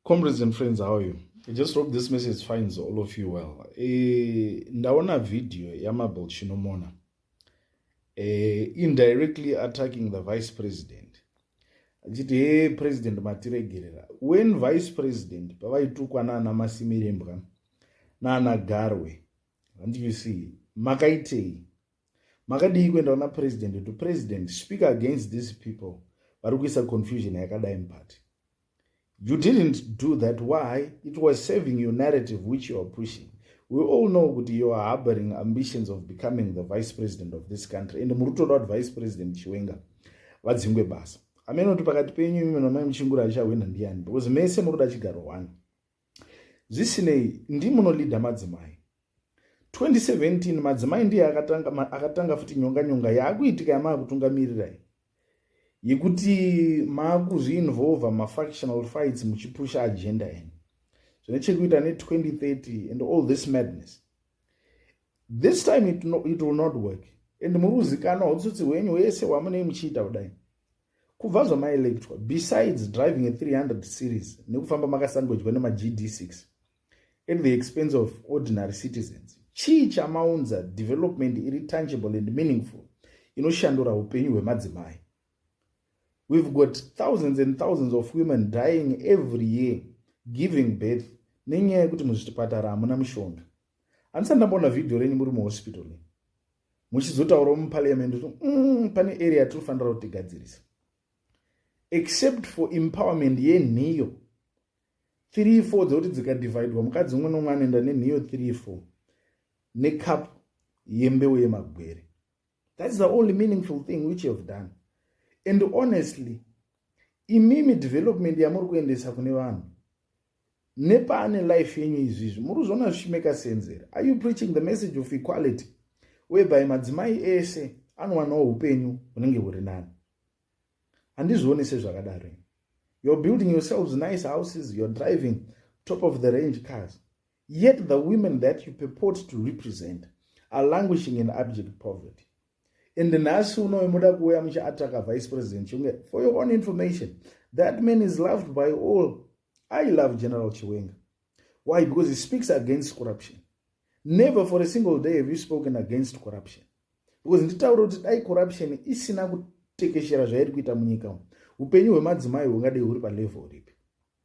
comrades and friends how you I just hope this message finds all of you well e, ndaona video yamabel chinomona e, indirectly attacking the vice president achiti he president matiregerera when vice president pavaitukwa naana masimirembwa naana garwe handiyusii makaitei makadii kuenda kuna president kuti president speak against these people vari kuisa confusion yakadai mupati you didn't do that why it was saving your narrative which you are pushing we all know kuti you are harboring ambitions of becoming the vice president of this country and muri kutoda kuti vice president chiwenga vadzingwe basa amene kuti pakati penyu imwe namai muchingura achahwina ndiani because mese muri kuda chigaro one zvisinei ndimunolida madzimai 2017 madzimai ndiye akatanga, akatanga futi nyonga nyonga yaakuitika yamaakutungamirirai yekuti maakuzviinvolva mafactional fights muchipusha agenda yenyu zvine chekuita ne2030 and all this madness this time it, no, it will not work and muri kuzikanwa utsotsi hwenyu hwese hwamunei muchiita kudai kubva zvamailectwa besides driving a 300 series nekufamba makasangojwa nemagd6 at the expense of ordinary citizens chii chamaunza development iri tangible and meaningful inoshandura upenyu hwemadzimai we've got thousands and thousands of women dying every year giving birth nenyaya yekuti muzvitipatara hamuna mishonga handisati ndamboona vhidhiyo renyu muri muhospital ne muchizotaura muparliament kuti mm, pane area tinofanira kuti tigadzirisa except for empowerment yenhiyo 3 4 dzekuti dzikadividwa mukadzi umwe nomwe anoenda nenhiyo 3 4 necup yembeu yemagwere that is the only meaningful thing which you have done and honestly imimi development yamuri kuendesa kune vanhu nepaane life yenyu izvi izvi muri kuzviona zvichimeka senzera are you preaching the message of equality whereby madzimai ese anowanawo upenyu hunenge huri nani handizvioni sezvakadaro you're building yourselves nice houses you're driving top of the range cars Yet the women that you purport to represent are languishing in abject poverty. And nhasi unoyo muda kuuya muchiataka vice president Chiwenga. For your own information, that man is loved by all. I love General Chiwenga. Why? Because he speaks against corruption. Never for a single day have you spoken against corruption. Because nditaura kuti dai corruption isina kutekeshera zvairi kuita munyika umu, upenyu hwemadzimai hungadei huri palevel ripi?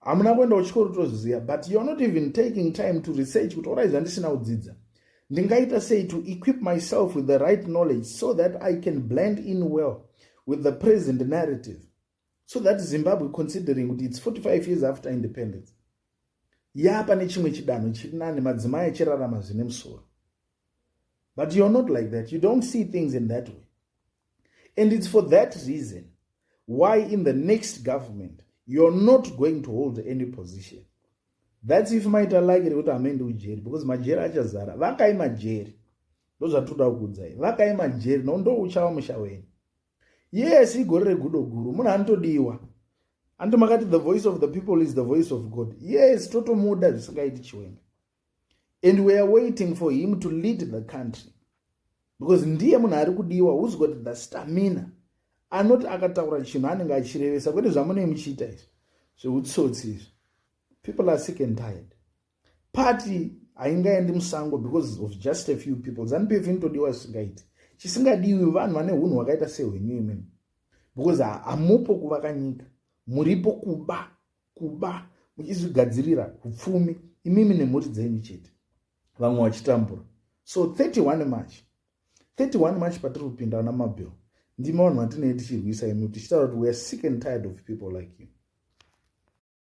hamuna kuenda kuchikoro tozviziva but youare not even taking time to research kuti orai zvandisina kudzidza ndingaita sei to equip myself with the right knowledge so that i can blend in well with the present narrative so that zimbabwe considering kuti its 45 years after independence yaapa nechimwe chidanho chiri nani madzimai achirarama zvine musoro but you're not like that you don't see things in that way and it's for that reason why in the next government you're not going to hold any position that's if maita like rekuti hamuendi kujeri because majeri achazara vakai majeri ndozvatinoda kukudzai vakai majeri no ndouchava musha wenyu yes igore regudo guru munhu anotodiwa andimakati the voice of the people is the voice of god yes totomuda zvisingaiti chiwenga and weare waiting for him to lead the country because ndiye munhu ari kudiwa who's got the stamina anoti akataura chinhu anenge achirevesa kwete zvamunei muchiita izvi zveutsotsi izvi people are sick and tired party haingaendi musango because of just a few people zanupf inotodiwa zvisingaiti chisingadiwi vanhu vane unhu hwakaita sehwenyu imimi because hamupo kuvaka nyika muripo kuba kuba muchizvigadzirira upfumi imimi nemhuri dzenyu chete vamwe vachitambura so 31 march 31 march patiri kupinda ana mabill ndima vanhu vatinei tichirwisa imi tichitaura kuti weare sick and tired of people like you